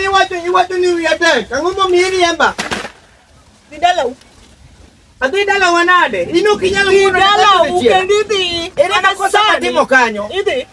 Iwacho iwacho ni wiya tek. Ang'o momiyi riemba? Dhi dalau. Adhi dalawa nade? In ok inyal Dhi wuondo dalau kendo idhi. Ere Mana makosa sani. matimo kanyo? Idhi.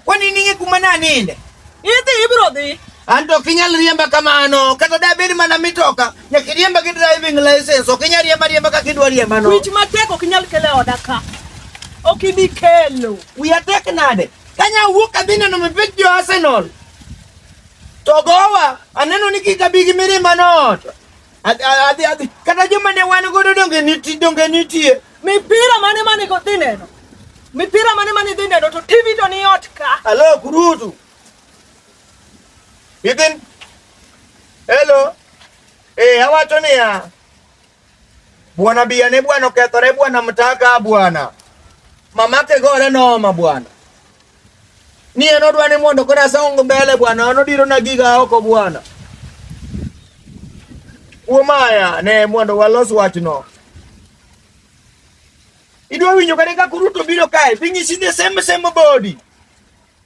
Kwani ning'e kuma naninde? Idhi ibiro dhi. An to ok inyal riemba kamano. Kata dabed mana mitoka, nyaka iriemba gi driving license. Ok inyal riemba riemba kaka idwa riembano. Wich matek ok inyal kelo e oda ka. Ok ibi kelo. Wiya tek nade? Kanya wuok adhi neno mipich jo Arsenal. To gowa aneno ni kik abi gi mirima noot. Adhi adhi kata joma ne wan godo donge nitie donge nitie. Mipira mane mane go dhi neno. Mipira mane mane dhi neno to TV to ni ot ka. Alo kurutu. Idin. Hello. Eh, awacho niya. Bwana biyane bwana okethore bwana mtaka bwana mamake gore noma bwana ni en odwa ni mondo koro asong mbele bwana an odiro na giga oko bwana kuom aya ne mondo walos wachno idwa winjo kata ka Ruto biro kae pinyisi the same same body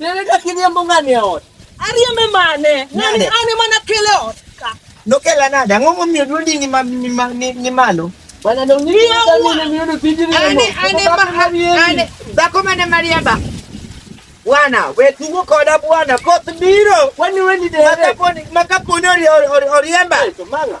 Nene ka kiriembo ng'ani e ot. Ariembe mane? Ng'ani an ema nakele ot ka. Nokela nade? Ang'o momiyo dwondi ni ma- ni ma- ni- ni malo? Bwana ndio nini Ndio, ndio huwa. nini ndio tiji nini. Ane ane ma- ane dhako mane mariemba. Bwana, we tugo koda bwana, koth biro. Kwani wewe ni dereva? Makaponi makaponi ori- ori- ori- oriemba. Manga.